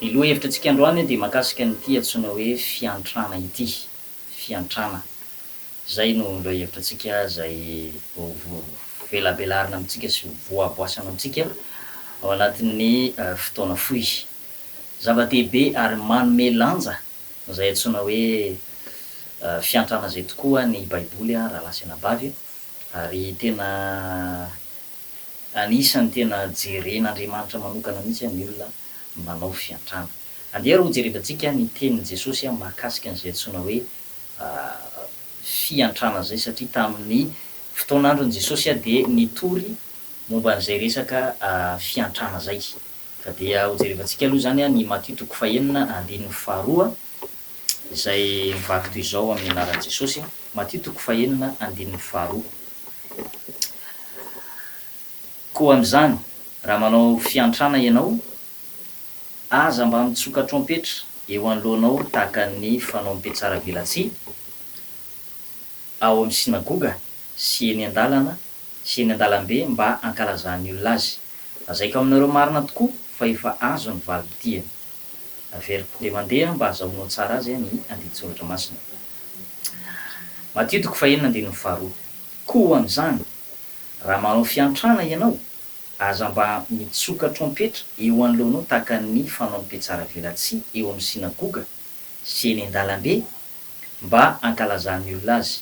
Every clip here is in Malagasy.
Ny loha-hevitrantsika androany dia mahakasika an'ity antsoina hoe fiantrana ity, fiantrana. Izay no loha-hevitrantsika izay hovelabelarina amintsika sy hovoaboasana amintsika ao anatin'ny fotoana fohy. Zava-dehibe ary manome lanja izay antsoina hoe fiantrana izay tokoa ny Baiboly, rahalahy sy anabavy, ary tena Anisan'ny tena jeren'Andriamanitra manokana mihitsy ny olona manao fiantrana. Andeha ary hojerevantsika ny tenin'i Jesosy mahakasika an'izay antsoina hoe fiantrana izay, satria tamin'ny fotoan'andron'i Jesosy dia nitory momba an'izay resaka fiantrana izay. Ka dia hojerevantsika aloha izany ny Matio toko fahenina andininy faharoa izay mivaky toy izao amin'ny anaran'i Jesosy, Matio toko fahenina andininy faharoa, Koa amin'izany, raha manao fiantrana ianao, aza mba mitsoka trompetra eo anoloanao tahaka ny fanao mpihatsaravelatsihy ao amin'ny sinagoga sy eny an-dalana sy eny an-dalambe mba hankalazan'ny olona azy. Lazaiko aminareo marina tokoa fa efa azo ny valim-pitiany. Averiko dia mandeha aho mba hazahoanao tsara azy ny andinin-tsoratra masina. Matio toko fahenina andininy faharoa. Koa amin'izany, raha manao fiantrana ianao, aza mba mitsoka trompetra eo anoloanao tahaka ny fanaon'ny mpitsaravelatsihy eo amin'ny synagoga sy eny an-dalambe mba hankalazan'ny olona azy.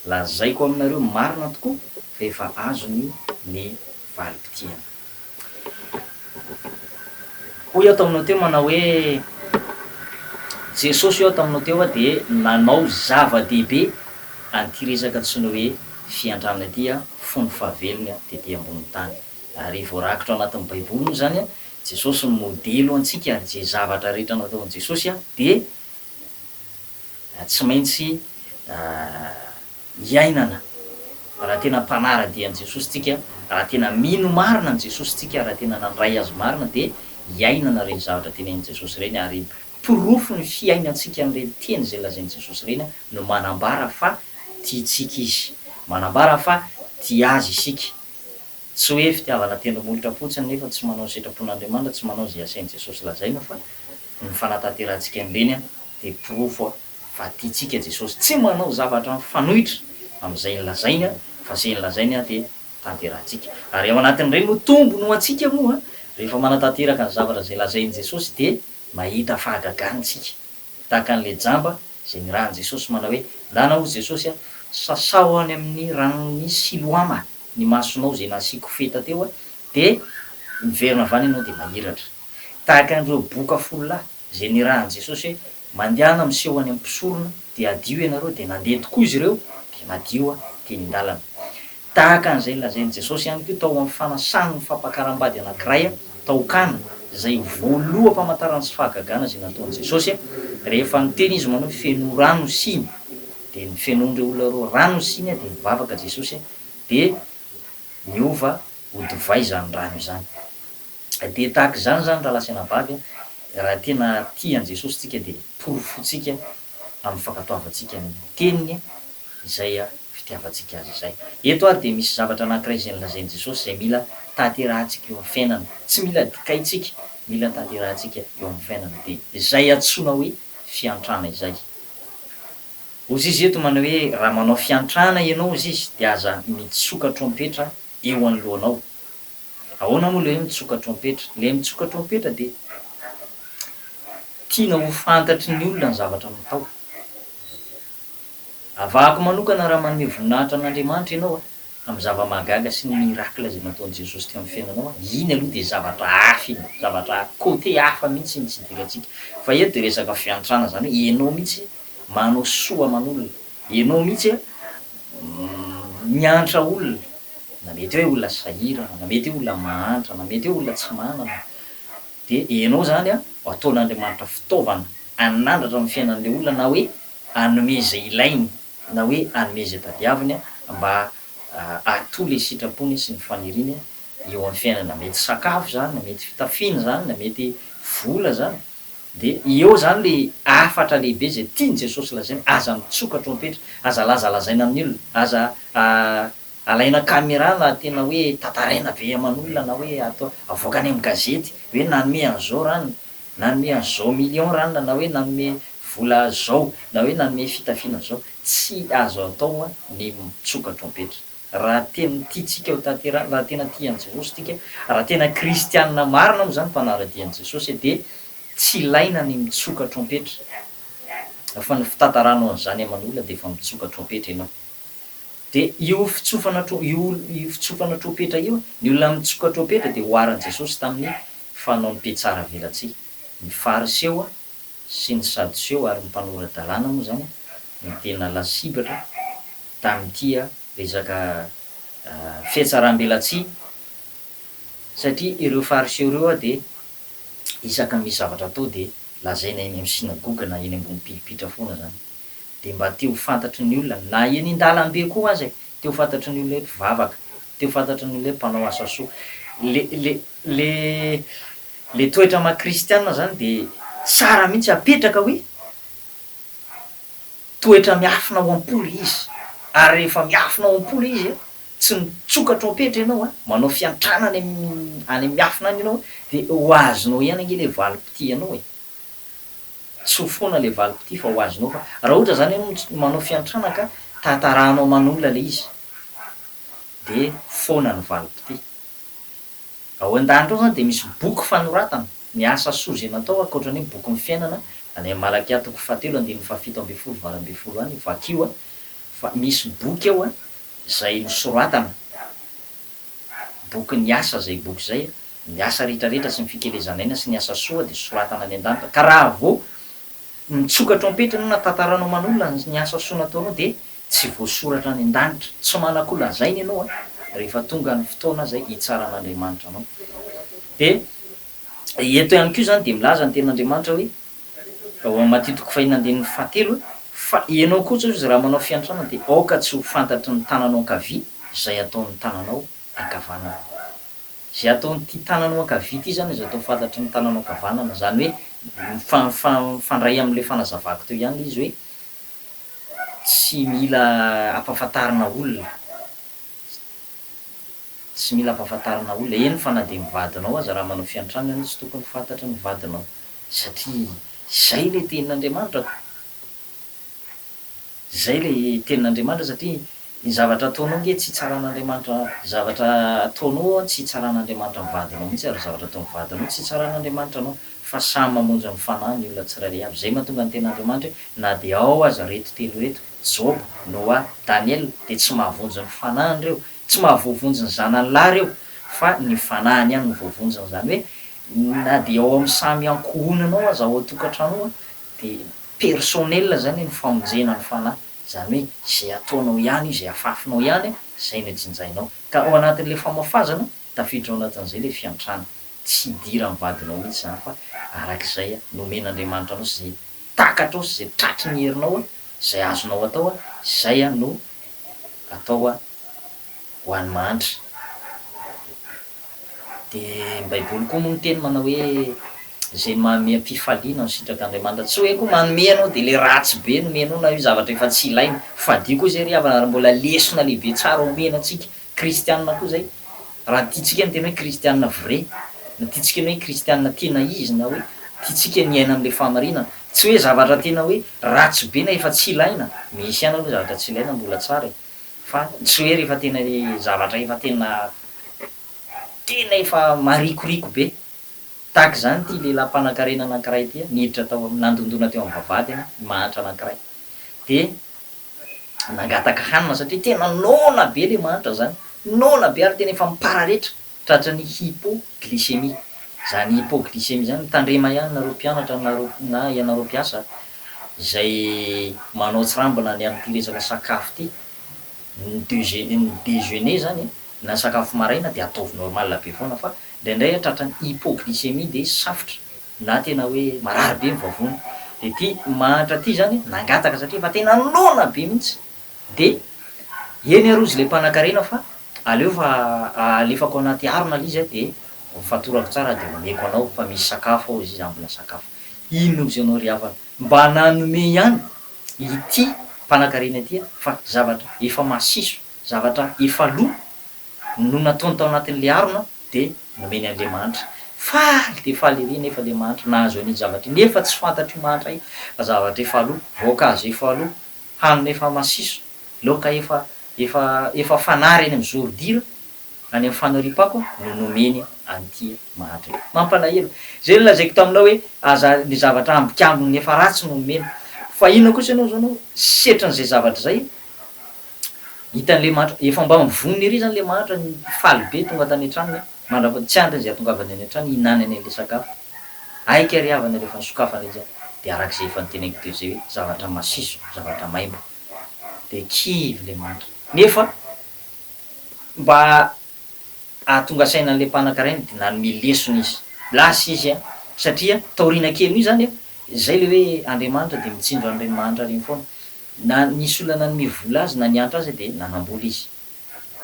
Lazaiko aminareo marina tokoa fa efa azony ny valim-pitiavana. Hoy aho taminao teo manao hoe, Jesosy hoy aho taminao teo aho dia nanao zava-dehibe an'ity resaka tsy ny hoe fiantrana ity aho fony fahavelony aho tety ambonin'ny tany. Ary voarakitra ao anatin'ny baiboly moa izany Jesosy ny modely ho antsika ary izay zavatra rehetra nataon'i Jesosy dia tsy maintsy iainana, raha tena mpanara-dia an'i Jesosy tsika, raha tena mino marina an'i Jesosy tsika, raha tena nandray Azy marina, dia iainana ireny zavatra tenenin'i Jesosy ireny, ary porofon'ny fiainantsika an'ireny teny izay lazain'i Jesosy ireny no manambara fa tiantsika Izy, manambara fa tia Azy isika. Tsy hoe fitiavana tendro molotra fotsiny nefa tsy manao ny sitrapon'Andriamanitra, tsy manao izay asain'i Jesosy lazaina, fa ny fanatanterahantsika an'ireny dia porofo fa tiantsika Jesosy tsy manao zavatra mifanohitra amin'izay nolazainy fa izay nolazainy dia tanterahantsika ary ao anatin'ireny no tombony ho antsika moa rehefa manatanteraka ny zavatra izay lazain'i Jesosy dia mahita fahagagana isika tahaka an'ilay jamba izay nirahan'i Jesosy manao hoe ndana hozy Jesosy a sasaho any amin'ny ranon'i Siloama ny masonao izay nasiako feta teo dia miverina avy any ianao dia mahiratra tahaka an'ireo boka folo lahy Izay nirahan'i Jesosy hoe, Mandehana miseho any amin'ny mpisorona, dia hadio ianareo, dia nandeha tokoa izy ireo, dia nadio teny an-dalana. Tahaka an'izay nolazain'i Jesosy ihany koa tao amin'ny fanasan'ny fampakaram-bady anankiray tao Kana, izay voaloham-pamantarana sy fahagagana izay nataon'i Jesosy, rehefa niteny izy manao hoe, Fenoy rano ny siny, dia nofenoin'ireo olona ireo rano ny siny, dia nivavaka Jesosy, dia niova ho divay izany rano izany. Dia tahaka izany izany rahalahy sy anabavy a, raha tena tia an'i Jesosy tsika dia porofointsika amin'ny fankatoavantsika ny teniny izay fitiavantsika azy izay. Eto ary dia misy zavatra anankiray izay nolazain'i Jesosy izay mila tanterahintsika eo amin'ny fiainana, tsy mila dikaintsika, mila tanterahintsika eo amin'ny fiainana, dia izay antsoina hoe fiantrana izay. Hozy izy eto manao hoe raha manao fiantrana ianao hozy izy dia aza mitsoka trompetra eo anoloanao. Ahoana moa ilay hoe mitsoka trompetra? Ilay mitsoka trompetra dia tiana ho fantatry ny olona ny zavatra natao. Avahako manokana raha manome voninahitra an'Andriamanitra ianao amin'ny zava-mahagaga sy ny miracle izay nataon'i Jesosy teo amin'ny fiainanao, iny aloha dia zavatra hafa iny, zavatra côté hafa mihitsy iny tsy idirantsika. Fa eto dia resaka fiantrana, izany hoe ianao mihitsy manao soa aman'olona. Ianao mihitsy a miantra olona na mety hoe olona sahirana na mety hoe olona mahantra na mety hoe olona tsy manana de ianao zany a ataon'Andriamanitra fitaovana anandratra ny fiainan'le olona na hoe anome ze ilainy na hoe anome ze tadiaviny mba hatoa le sitrapony sy ny faniriany eo amin'ny fiainany na mety sakafo zany na mety fitafiana zany na mety vola zany. Dia eo izany ilay hafatra lehibe izay tian'i Jesosy lazaina, aza mitsoka trompetra, aza lazalazaina amin'ny olona, aza alaina camera na tena hoe tantaraina be aman'olona na hoe atao avoaka any amin'ny gazety hoe nanome an'izao ranona, nanome an'izao millions ranona na hoe nanome vola izao na hoe nanome fitafiana izao. Tsy azo atao ny mitsoka trompetra. Raha tena tia tsika ho tanteraka, raha tena tia an'i Jesosy tsika, raha tena kristianina marina moa izany mpanara-dia an'i Jesosy dia tsy ilaina ny mitsoka trompetra fa ny fitantaranao an'izany aman'olona dia efa mitsoka trompetra ianao. Dia io fitsofana io io fitsofana trompetra io, ny olona mitsoka trompetra dia oharin'i Jesosy tamin'ny fanaon'ny mpihatsaravelatsihy. Ny fariseo sy ny sadoseo ary ny mpanora-dalàna moa izany no tena lasibatra. tamin'ity resaka fihatsaram-belatsihy satria ireo Fariseo ireo dia isaka misy zavatra atao dia lazaina eny amin'ny synagoga na eny ambony pilipitra foana izany dia mba te ho fantatry ny olona na eny an-dalambe koa aza e! te ho fantatry ny olona hoe mpivavaka, te ho fantatry ny olona hoe mpanao asa soa. Le le le le toetra maha kristiana izany dia tsara mihitsy apetraka hoe. Toetra miafina ao am-poly izy, ary rehefa miafina ao am-poly izy, tsy mitsokatra ao am-petra ianao, manao fiantrana any amin'ny miafina any ianao, dia ho azonao ihany ange ilay valim-pitia anao e! Tsy ho foana ilay valim-pitia fa ho azonao fa raha ohatra izany ianao no manao fiantrana ka tantarahanao aman'olona ilay izy dia foana ny valim-pitia. Ao an-danitra ao izany dia misy boky fanoratana ny asa soa izay natao ankoatra ny hoe bokin'ny fiainana any amin'ny Malakia toko fahatelo andininy fahafito ambin'ny folo valo ambin'ny folo any vakio fa misy boky ao izay nosoratana bokin'ny asa izay boky izay ny asa rehetra rehetra sy ny fikelezan'aina sy ny asa soa dia soratana any an-danitra ka raha vao mitsoka trompetra ianao na tantaranao manokana ny asa soa nataonao dia Tsy voasoratra any an-danitra. Tsy manan-ko lazaina ianao an! Rehefa tonga ny fotoana izay hitsaran'Andriamanitra anao. Dia eto ihany koa izany dia milaza ny tenin'Andriamanitra hoe, ao amin'ny Matio toko fahiny andininy fahatelo hoe, Fa ianao kosa hoy Izy raha manao fiantrana dia aoka tsy ho fantatry ny tananao ankavia izay ataon'ny tananao ankavanana. Izay ataon'ity tananao ankavia ity izany izay atao fantatry ny tananao ankavanana. Izany hoe, mifandray amin'ilay fanazavako teo ihany ilay izy hoe, Tsy mila ampafantarina olona. Tsy mila ampafantarina olona, eny fa na dia ny vadinao aza raha manao fiantrana ianao tsy tokony fantatry ny vadinao satria izay ilay tenin'Andriamanitra ko. Izay ilay tenin'Andriamanitra satria. Ny zavatra ataonao nge tsy hitsaran'Andriamanitra zavatra ataonao tsy hitsaran'Andriamanitra ny vadinao mihitsy ary zavatra ataon'ny vadinao tsy hitsaran'Andriamanitra anao fa samy mamonjy ny fanahy ny olona tsirairay avy izay mahatonga ny ten'Andriamanitra hoe na dia ao aza reto telo reto Joba, Noa, Daniela dia tsy mahavonjy ny fanahiny ireo tsy mahavoavonjy ny zanany lahy ireo fa ny fanahiny ihany no voavonjiny izany hoe na dia ao amin'ny samy ankohonanao aza ao an-tokantranonao dia personnel izany ny famonjena ny fanahy. Izany hoe izay ataonao ihany, izay afafinao ihany, izay no jinjainao. Ka ao anatin'ilay famafazana, tafiditra ao anatin'izay ilay fiantrana. Tsy idiran'ny vadinao mihitsy izany fa araka izay nomen'Andriamanitra anao sy izay takatrao sy izay tratry ny herinao, izay azonao atao, izay no atao ho an'ny mahantra. Dia ny baiboly koa moa miteny manao hoe izay manome am-pifaliana no sitrak'Andriamanitra. Tsy hoe koa manome ianao dia ilay ratsy be no omenao na io zavatra efa tsy ilaina. Fadio koa izay ry havana ary mbola lesona lehibe tsara omena antsika kristianina koa izay. Raha tiantsika ny tena hoe kristianina vrai, na tiantsika ny hoe kristianina tena izy na hoe tiantsika ny hiaina amin'ilay fahamarinana. Tsy hoe zavatra tena hoe ratsy be na efa tsy ilaina. Misy ihany aloha zavatra tsy ilaina mbola tsara e. Fa tsy hoe rehefa tena zavatra efa tena tena efa marikoriko be, tahaka izany ity lehilahy mpanankarena anankiray ity, niditra tao amin'ny, nandondona teo amin'ny vavahadiny ny mahantra anankiray, dia nangataka hanina satria tena noana be ilay mahantra izany, noana be ary tena efa mipararetra. Tratran'ny hypoglycémie. Izany hypoglycémie izany, tandrema ihany nareo mpianatra na na ianareo mpiasa izay manao tsirambina ny amin'ity resaka sakafo ity. Ny deuxé ny dejeuner izany e, na sakafo maraina dia ataovy normal be foana fa indraindray a tratran'ny hypoglycémie dia safotra na tena hoe marary be ny vavony. Dia ity mahantra ity izany nangataka satria efa tena noana be mihitsy De, eny aroa izy le mpanakarena fa aleo fa alefako anaty harona le izy a de fatorako tsara de omeko anao fa misy sakafo ao izy io za mbola sakafo. Inona ozy anao ry havana mba nanome ihany ity mpanakarena ity a fa zavatra efa masiso, zavatra efa lo no nataony tao anatin'le harona de nomeny an'le mahantra. Faly de faly ery nefa le mahantra nahazo an'iny zavatra iny nefa tsy fantatr'io mahantra io fa zavatra efa lo, voankazo efa lo, hanina efa masiso, laoka efa efa efa fanary eny amin'ny zoro-dira, any amin'ny fanoriam-pako no nomeny an'ity mahatra ity. Mampalahelo. Izay nolazaiko taminao hoe aza ny zavatra ambikambiny efa ratsy no omena. Fa inona kosa ianao izao no setrin'izay zavatra izay? Hitan'ilay mahatra, efa mba mivonona ery izany ilay mahatra, faly be tonga tany an-tranony, mandra-, tsy andriny izay hahatongavany any an-trano hihinanany an'ilay sakafo. Aika ry havana rehefa nisokafana izy dia arak'izay efa noteneniko teo izay hoe zavatra masiso, zavatra maimbo dia kivy le mantra. Nefa mba ahatonga saina an'ilay mpananka rainy dia nanome lesona izy. Lasa izy an! Satria taoriana kelin'io izany an, izay le hoe Andriamanitra dia mitsinjo an'ireny mahantra ireny foana. Na nisy olona nanome vola azy na niantra azy dia nanam-bola izy.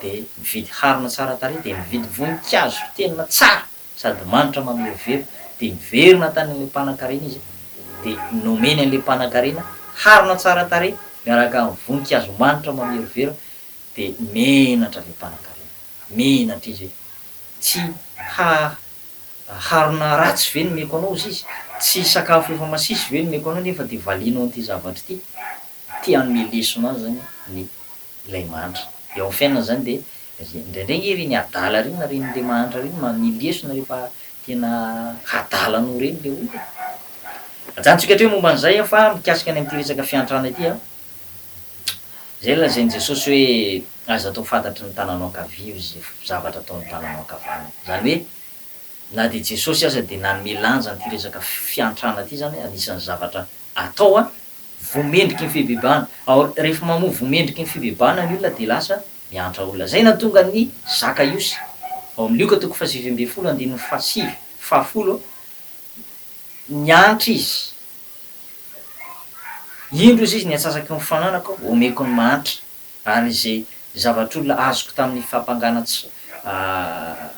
Dia nividy harona tsara tarehy dia nividy voninkazo tena tsara. sady manitra mamerovero, dia niverina tany amin'ilay mpanankarena izy, dia nomeny an'ilay mpanankarena harona tsara tarehy miaraka amin'ny voninkazo manitra mamerovero, dia menatra ilay mpanankarena, menatra izy hoe, Tsy ha, harona ratsy ve nomeko anao, hozy izy, tsy sakafo efa masiso ve nomeko anao nefa dia valianao an'ity zavatra ity? Ity hanome lesona azy izany ny ilay mahantra. Eo amin'ny fiainana izany dia indraindray ange ireny adala ireny na ireny ilay mahantra ireny manome lesona rehefa tena hadala anao ireny ilay olona e. Ajanontsika hatreto momba an'izay aho fa mikasika ny amin'ity resaka fiantrana ity an, izay lazain'i Jesosy hoe aza atao fantatry ny tananao ankavia izay zavatra ataon'ny tananao ankavanana. Izany hoe na dia Jesosy aza dia nanome lanja an'ity resaka fiantrana ity izany hoe anisan'ny zavatra atao an. vomendriky ny fibebahana ao rehefa mamoa vomendriky ny fibebahana ny olona dia lasa miantra olona zay nahatonga ny zaka iosy ao amin'ny lioka toko fahasivy ambin'ny folo andininy fahasivy fahafolo niantra izy indro izy izy ny atsasaky ny fananako omeko ny mahantra ary izay zavatr'olona azoko tamin'ny fampangana tsy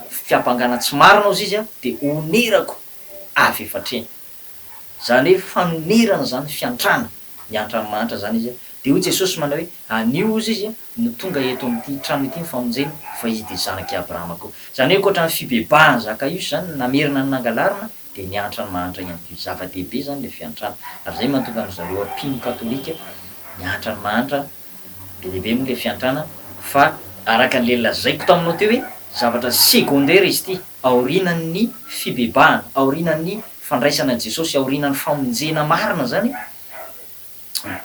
fiampangana tsy marina ozizy dia onerako avy efa hatreny Zany hoe fanonerana zany fiantrana, miantra an'i mahantra zany izy, de hoy Jesosy manao hoe anio ozy izy no tonga eto amin'ity trano ity ny famonjena fa izy de zanak'i Abrahama koa. Zany hoe ankoatran'ny fibebahan'i Zakaiosy zany ny namerina ny nangalarina de niantra an'i mahantra ihany koa izy. Zava-dehibe zany le fiantrana ary zay mahatonga an'zareo mpino katolika miantra an'i mahantra Be dia be moa ilay fiantrana fa araka an'ilay lazaiko taminao teo hoe zavatra secondaire izy ity aorianan'ny fibebahana, aorianan'ny fandraisana an'i Jesosy, aorianan'ny famonjena marina izany,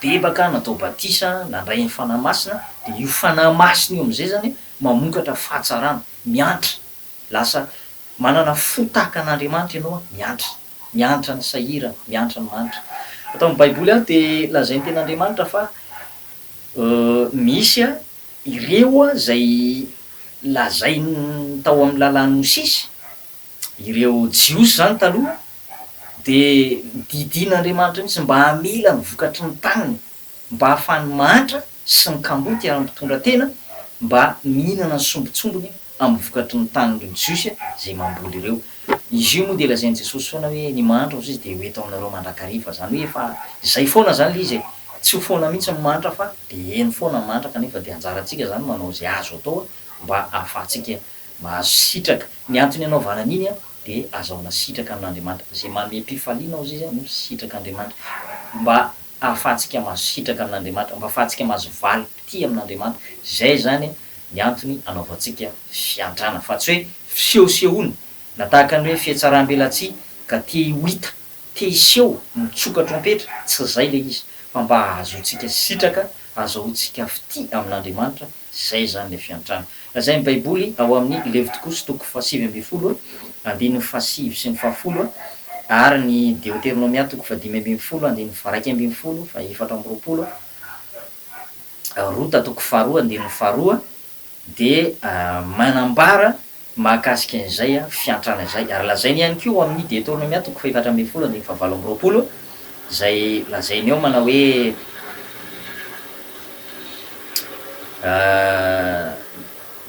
nibebaka, natao batisa, nandray ny Fanahy Masina, dia io Fanahy Masina io amin'izay izany mamokatra fahatsarana, miantra, lasa manana fo tahaka an'Andriamanitra ianao, miantra. Miantra ny sahirana, miantra ny manitra. Ato amin'ny Baiboly ary dia lazain'ny Tenin'Andriamanitra fa misy ireo izay lazainy tao amin'ny Lalàn'i Mosesy, ireo Jiosy izany taloha dia didian'Andriamanitra mihitsy mba hamela ny vokatry ny taniny. mba ahafahan'ny mahantra sy ny kamboty ary ny mpitondra tena mba mihinana ny sombintsombiny amin'ny vokatry ny tanin'ireo Jiosy izay mamboly ireo. Izy io moa dia lazain'i Jesosy foana hoe ny mahantra hozy izy dia ho eto aminareo mandrakariva, izany hoe efa izay foana izany ilay izy e! Tsy ho foana mihitsy ny mahantra fa dia heno foana ny mahantra kanefa dia anjarantsika izany manao izay azo atao mba ahafahantsika Mahazo sitraka. Ny antony anaovana an'iny an, dia azahoana sitraka amin'Andriamanitra. Izay mamem-pifaliana ao Izy no sitrak'Andriamanitra. Mba ahafahantsika mahazo sitraka amin'Andriamanitra, mba ahafahantsika mahazo valim-pitia amin'Andriamanitra. Izay izany ny antony anaovantsika fiantrana. Fa tsy hoe fisehosehoana, na tahaka ny hoe fihatsaram-belatsihy ka te ho hita, te hiseho, mitsoka trompetra. Tsy izay ilay izy. Fa mba hahazoantsika sitraka, azahoantsika fitia amin'Andriamanitra, Izay izany ilay fiantrana. Lazain'ny Baiboly ao amin'ny Levitikosi toko fahasivy ambin'ny folo andininy fahasivy sy ny fahafolo ary ny Deoteronomia toko fahadimy ambin'ny folo andininy faharaika ambin'ny folo, fahefatra amby roapolo, Rota toko faharoa andininy faharoa dia manambara mahakasika izay fiantrana izay, ary lazainy ihany koa ao amin'ny Deoteronomia toko fahefatra ambin'ny folo andininy fahavalo amby roapolo, izay lazainy eo manao hoe,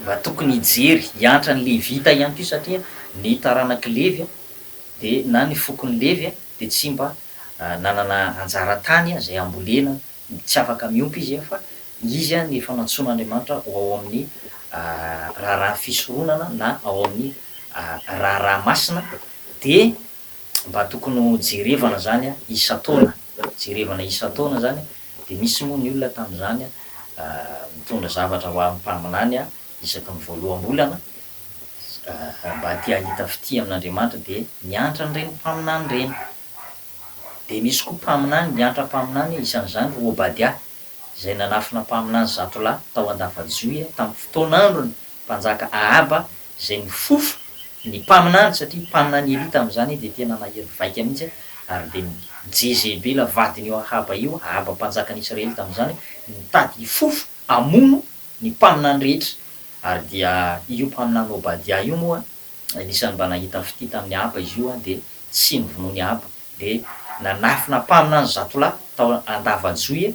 Raha tokony hijery, hiantra ny Levita ihany koa, satria ny taranak'i Levy, dia na ny fokon'i Levy, dia tsy mba nanana anjara tany izay hambolena, Tsy afaka miompy izy an, fa izy an efa nantsoin'Andriamanitra ho ao amin'ny raharaha fisoronana na ao amin'ny raharaha masina, dia mba tokony ho jerevana izany an isan-taona, jerevana isan-taona izany an, dia nisy moa ny olona tamin'izany an mitondra zavatra ho amin'ny mpaminany an isaky ny voaloham-bolana, mba te hahita fitia amin'Andriamanitra dia niantra an'ireny mpaminany ireny, Dia nisy koa mpaminany niantra mpaminany, isan'izany ry Obadia, izay nanafina mpaminany zato lahy tao Andava-joia tamin'ny fotoan'andron'ny mpanjaka Ahaba, izay nifofo ny mpaminany, satria mpaminany Elia tamin'izany dia tena nahery vaika mihitsy, ary dia Jezebela vadin'io Ahaba io, Ahaba mpanjakan'i Israely tamin'izany, nitady hifofo hamono ny mpaminany rehetra, ary dia io mpaminany Obadia io moa Anisan'ny mba nahita fitia tamin'i Ahaba izy io, dia tsy novonoiny i Ahaba, dia nanafina am-panina ny zatolahy tao an-dava-joy,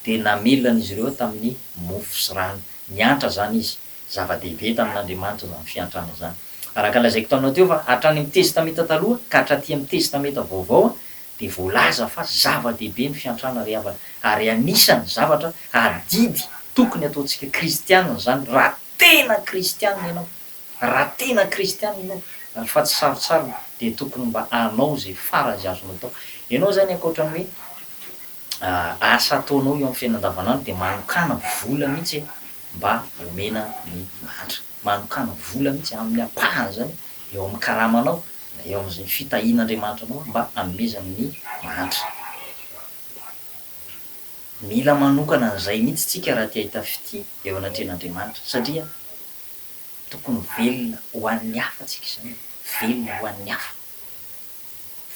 dia namelona an'izy ireo tamin'ny mofo sy rano. Niantra izany izy. Zava-dehibe tamin'Andriamanitra izany fiantrana izany. Araka ny lazaiko taminao teo fa hatrany amin'ny Testamenta Taloha ka hatraty amin'ny Testamenta Vaovao dia voalaza fa zava-dehibe ny fiantrana ry havana, ary anisan'ny zavatra adidy tokony hataontsika Kristianina izany raha tena Kristianina ianao. Raha tena kristiana ianao fa tsy sarotsarona dia tokony mba hanao izay farany izay azonao atao. Ianao izany ankoatra ny hoe asa ataonao eo amin'ny fiainana andavanandro dia manokàna vola mihitsy mba homena ny mahantra. Manokàna vola mihitsy amin'ny ampahany izany eo amin'ny karamanao na eo amin'izay fitahian'Andriamanitra anao mba hanomezany ny mahantra. Mila manokana an'izay mihitsy isika raha te hahita fitia eo anatrehan'Andriamanitra satria. Tokony velona ho an'ny hafa tsika izany e, velona ho an'ny hafa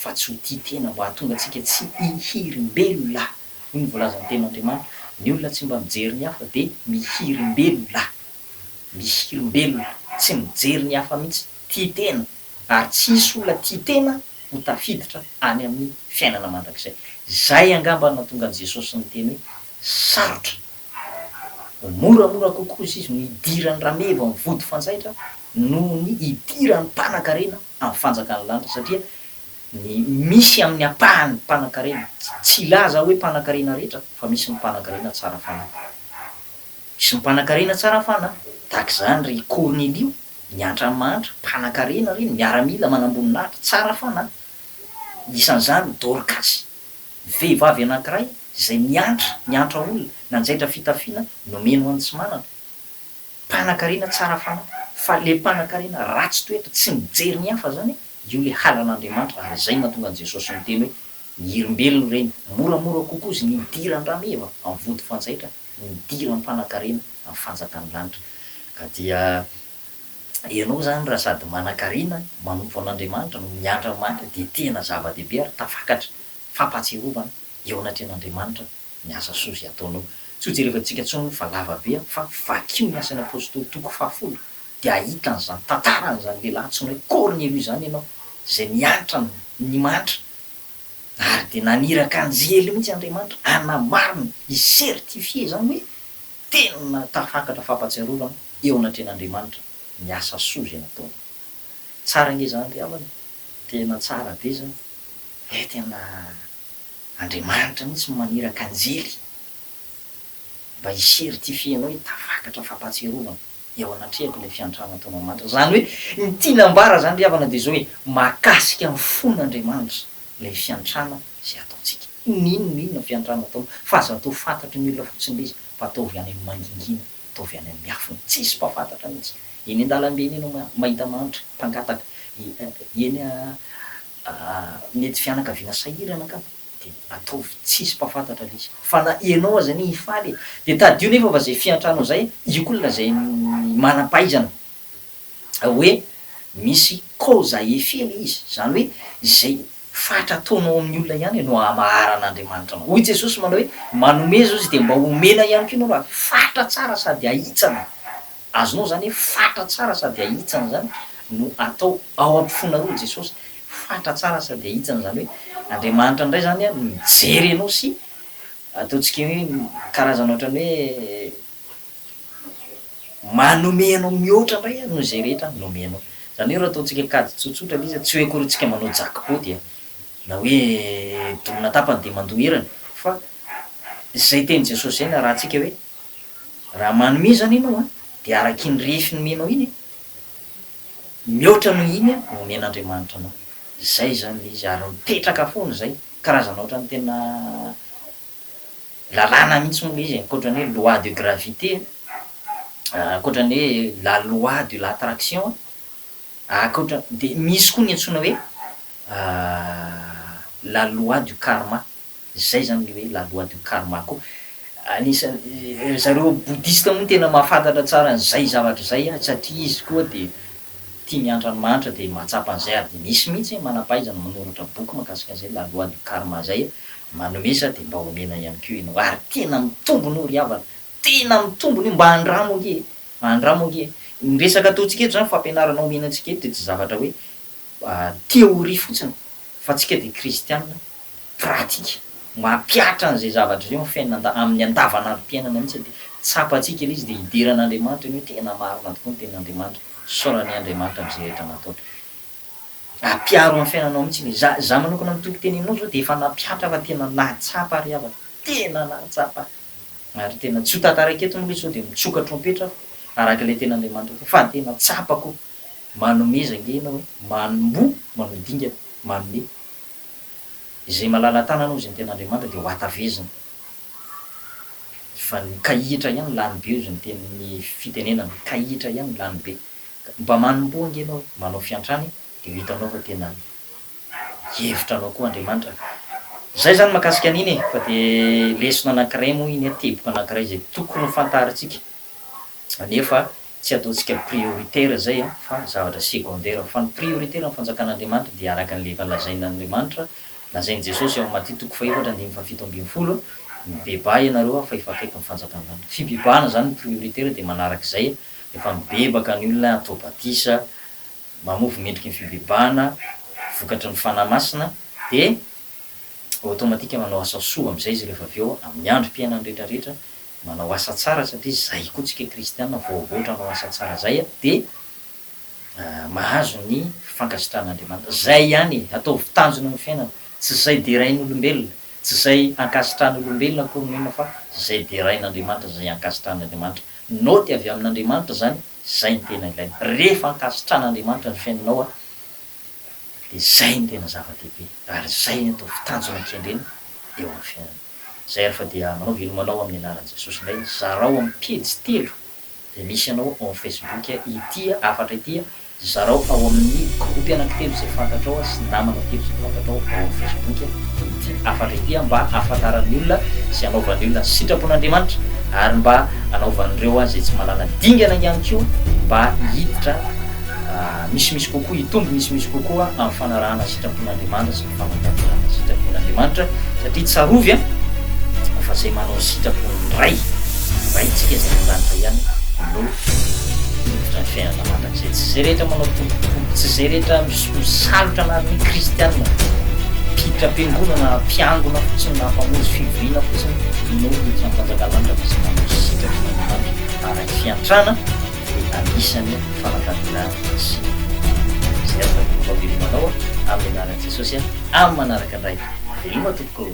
fa tsy ho tia tena mba hahatonga antsika tsy hihirimbelona. Hoy ny voalazan'ny Tenin'Andriamanitra, Ny olona tsy mba mijery ny hafa dia mihirimbelona. Mihirimbelona, tsy mijery ny hafa mihitsy, tia tena, ary tsy hisy olona tia tena ho tafiditra any amin'ny fiainana mandrakizay. Izay angamba no nahatonga an'i Jesosy niteny hoe, Sarotra Ho moramora kokoa izy no hidiran'ny rameva amin'ny vody fanjaitra noho ny hidiran'ny mpanankarena amin'ny fanjakan'ny lanitra satria ny misy amin'ny ampahan'ny mpanankarena, tsy hilaza aho hoe mpanankarena rehetra fa misy ny mpanankarena tsara fanahy. Misy ny mpanankarena tsara fanahy, tahaka izany ry Kornelio, miantra amin'ny mahantra, mpanankarena ireny, miaramila manamboninahitra, tsara fanahy. Isan'izany Dorkasy. Vehivavy anankiray izay miantra miantra olona nanjaitra fitafiana nomeny ho an'ny tsy manana. Mpanankarena tsara fanahy fa le mpanankarena ratsy toetra tsy mijery ny hafa zany io le halan'Andriamanitra ary zay natonga an'i Jesosy niteny hoe ny hirimbelony ireny moramora kokoa izy ny midira an-drameva amin'ny vody fanjaitra midira mpanankarena amin'ny fanjakan'ny lanitra ka dia ianao zany raha sady manankarena manompo an'Andriamanitra no miantra maty dia tena zava-dehibe ary tafakatra fampahatsiarovana eo anatrehan'Andriamanitra ny asa soa izay ataonao. Tsy ho jerevantsika intsony fa lava be an! Fa vakio ny Asan'ny Apostoly toko fahafolo dia hahita an'izany tantara an'izany lehilahy antsoina hoe Kornelio izany ianao izay niantra ny ny mantra ary dia naniraka anjely mihitsy Andriamanitra hanamarina, hi-certifier izany hoe tena tafakatra fampahatsiarovana eo anatrehan'Andriamanitra ny asa soa izay nataonao. Tsara ange izany ry havana e! Tena tsara be izany. He tena Andriamanitra mihitsy no maniraka anjely mba hi certifier anao hoe tafakatra fampatsiarovana eo anatrehako ilay fiantrana ataonao Andriamanitra. Izany hoe ny tiany ambara izany ry havana dia izao hoe mahakasika ny fon' Andriamanitra ilay fiantrana izay ataontsika. N'inona na inona fiantrana ataonao fa aza atao fantatry ny olona fotsiny ilay izy fa ataovy any amin'ny mangingina, ataovy any amin'ny miafina. Tsisy mpafantatra mihitsy. Eny an-dalambe eny ianao mahita mahantra mpangataka, eny a. Aa mety fianakaviana sahirana angamba de ataovy tsisy mpafantatra le izy fa na enao aza anie hifaly e de tadidio nefa fa zay fiantrano zay io ko la zay manampahaizana oe misy cause à effet le izy zany oe zay fatra ataonao amin'ny olona ihany e no ahamaharan'Andriamanitra anao hoy Jesosy manao oe manome zao izy de mba omena ihany ko enao raha fatra tsara sady ahitsana. Azonao izany hoe fatra tsara sady ahitsana izany no atao ao ampofonareo i Jesosy. Fatra tsara sady ahitsana izany hoe Andriamanitra indray izany no mijery anao sy ataontsika hoe karazana ohatran'ny hoe manome anao mihoatra indray noho izay rehetra nomenao. Izany hoe raha ataontsika kajy tsotsotra ilay izy tsy hoe akory tsika manao jackpot dia na hoe dorana tapany dia mandoa erany fa izay tenin'i Jesosy izay narahantsika hoe Raha manome izany ianao an, dia araka iny refy nomenao iny, mihoatra noho iny no omen'Andriamanitra anao. Izay izany ilay izy, ary mipetraka foana izay. Karazana ohatran'ny tena lalàna mihitsy moa ilay izy e, ankoatra ny hoe loi de gravité, ankoatra ny hoe la loi de l'attraction, ankoatra, dia misy koa ny antsoina hoe la loi du karma. Zay zany le hoe la loi du karma ko anisan ry zareo boudhiste moa tena mahafantatra tsara an'izay zavatra izay satria izy koa dia tia miantra an'i Manitra dia mahatsapa an'izay ary dia misy mihitsy manampahaizana manoratra boky mahakasika an'izay la loi du karma zay manome sa dia mba omena ihany koa ianao ary tena mitombona io ry havana tena mitombona io mba andramo ange e mba andramo ange e ny resaka ataontsika eto zany fampianarana omena antsika eto dia tsy zavatra hoe theorie fotsiny fa tsika dia kristiana pratika mampihatra an'izay zavatra izay eo amin'ny fiainana amin'ny andavanandrom-piainana mihitsy dia tsapantsika ilay izy dia hidera an'Andriamanitra ny hoe tena marina tokoa ny tenin'Andriamanitra, isaorany Andriamanitra amin'izay rehetra nataony. Ampiaro amin'ny fiainanao mihitsy ilay izy. Izaho manokana amin'ny toky teneninao izao dia efa nampihatra fa tena nahatsapa ry havana, tena nahatsapa ary tena tsy ho tantaraiko eto moa ilay izy sao dia mitsoka trompetra aho araka ilay tenin'Andriamanitra teo fa tena tsapako hoe manomeza ange ianao e, manomboha, manodingana, manome. Izay malala-tanana hozy ny tenin'Andriamanitra dia ho hatavezina. Fa ny kahihitra ihany lany be hozy ny teny ny fitenenana, kahihitra ihany lany be. Ka mba manomboha ange ianao hoe manao fiantrany dia ho hitanao fa tena hihevitra anao koa Andriamanitra. Izay izany mahakasika an'iny e! Fa dia lesona anankiray moa iny, teboka anankiray izay tokony ho fantarintsika. Anefa tsy ataontsika prioritaire izay an, fa zavatra secondaire. Fa ny prioritaire amin'ny fanjakan'Andriamanitra dia araka an'ilay efa lazain'Andriamanitra, lazain'i Jesosy ao amin'ny Maty toko fahefatra andininy fahafito ambin'ny folo, Mibebaha ianareo an, fa efa akaiky ny fanjakan-danitra. Fibebahana izany ny prioritaire dia manaraka izay, rehefa mibebaka ny olona, atao batisa, mamofy mendriky ny fibebahana, vokatry ny Fanahy Masina, dia automatique manao asa soa amin'izay izy rehefa avy eo amin'ny androm-piainany rehetra rehetra, Manao asa tsara satria zay koa tsika kristiana voavoatra hanao asa tsara zay a de mahazo ny fankasitran'Andriamanitra. Zay ihany e! Ataovy tanjona ny fiainana. Tsy zay derain'olombelona, tsy zay ankasitran'olombelona akory no inona fa zay derain'Andriamanitra sy zay ankasitran'Andriamanitra. Naoty avy amin'Andriamanitra zany, zay no tena ilaina. Rehefa ankasitran'Andriamanitra ny fiainanao a de zay no tena zava-dehibe ary zay ny ataovy tanjona kendrena eo amin'ny fiainana. Zay ary fa dia manao veloma anao amin'ny anaran'i Jesosy indray, zarao amin'ny pejy telo zay misy anao ao amin'ny Facebook ity hafatra ity, zarao ao amin'ny gropy anankitelo zay fantatrao sy namana telo zay fantatrao ao amin'ny Facebook ity hafatra ity mba hahafantaran'ny olona sy hanaovan'ny olona ny sitrapon'Andriamanitra ary mba hanaovan'ireo zay tsy manana dingana ihany koa mba hiditra misimisy kokoa, hitombo misimisy kokoa amin'ny fanarahana sitrapon'Andriamanitra. Mampatanjaka ny sitrapon'Andriamanitra satria tsarovy an! fa izay manao ny sitrapon'ny Ray, Raintsika izay any an-danitra ihany no miditra ny fiainana mandrakizay. Tsy izay rehetra manao tombontsoa, tsy izay rehetra misalotra anarana hoe kristiana, mpiditra am-piangonana na mpiangona fotsiny na mpamonjy fivoriana fotsiny no miditra amin'ny fanjakan'ny lanitra fa izay manao ny sitrapon'Andriamanitra araky fiantrana. anisan'ny fanankarena sy izay aza ny tompo avelino anao amin'ny anaran'i Jesosy amin'ny manaraka indray veloma tompoko